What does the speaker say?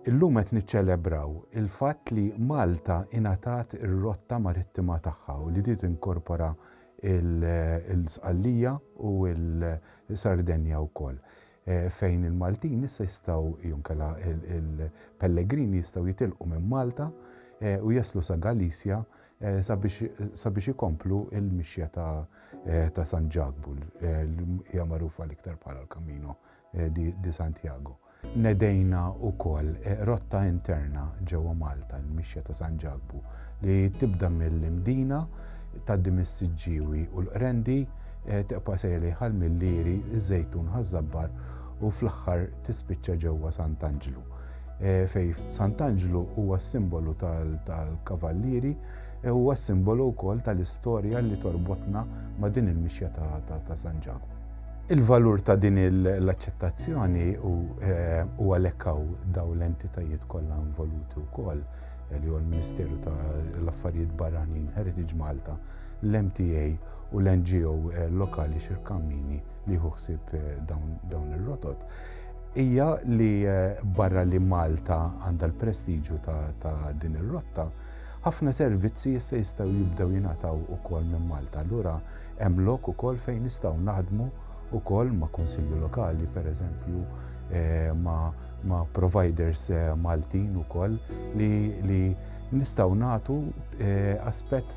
Illum qed niċċelebraw il-fatt li Malta ingħatat ir-rotta marittima tagħha u li din tinkorpora l-Sqallija u l-Sardenja wkoll. fejn il-Maltin issa jistgħu jew inkella il-pellegrini jistgħu jitilqu minn Malta u jaslu sa Galizja sabiex ikomplu l-mixja ta' San Ġakbu li hija magħrufa l-iktar bħala l-Camino di Santiago. Nedejna wkoll rotta interna ġewwa Malta, il-mixja ta' San Ġakbu, li tibda mill-Imdina, tgħaddi mis-Siġġiewi u l-Qrendi Teqpa' sejr lejn Ħal Milieri, iż-Żejtun, Ħaż-Żabbar u fl-aħħar tispiċċa ġewwa Sant'Anġlu. Fejn Sant'Anġlu huwa s-simbolu tal-Kavallieri, huwa s-simbolu wkoll tal-istorja li torbotna ma' din il-mixja ta' San Ġakbu. Il-valur ta' din l-aċċettazzjoni u għalhekk hawn dawn l-entitajiet kollha involuti wkoll li huwa l-Ministeru tal-Affarijiet Barranin, Heritage Malta, l-MTA, u l-NGO eh, lokali xirkammini li jieħu ħsieb eh, dawn ir-rotot hija li eh, barra li Malta għandha l-prestiġju ta' din ir-rotta, ħafna servizzi issa jistgħu jibdew jingħataw ukoll minn Malta. Allura hemm lok ukoll fejn nistgħu naħdmu ukoll ma' kunsilli lokali, pereżempju, ma' ma' providers eh, Maltin ukoll li, li nistaw natu eh, aspett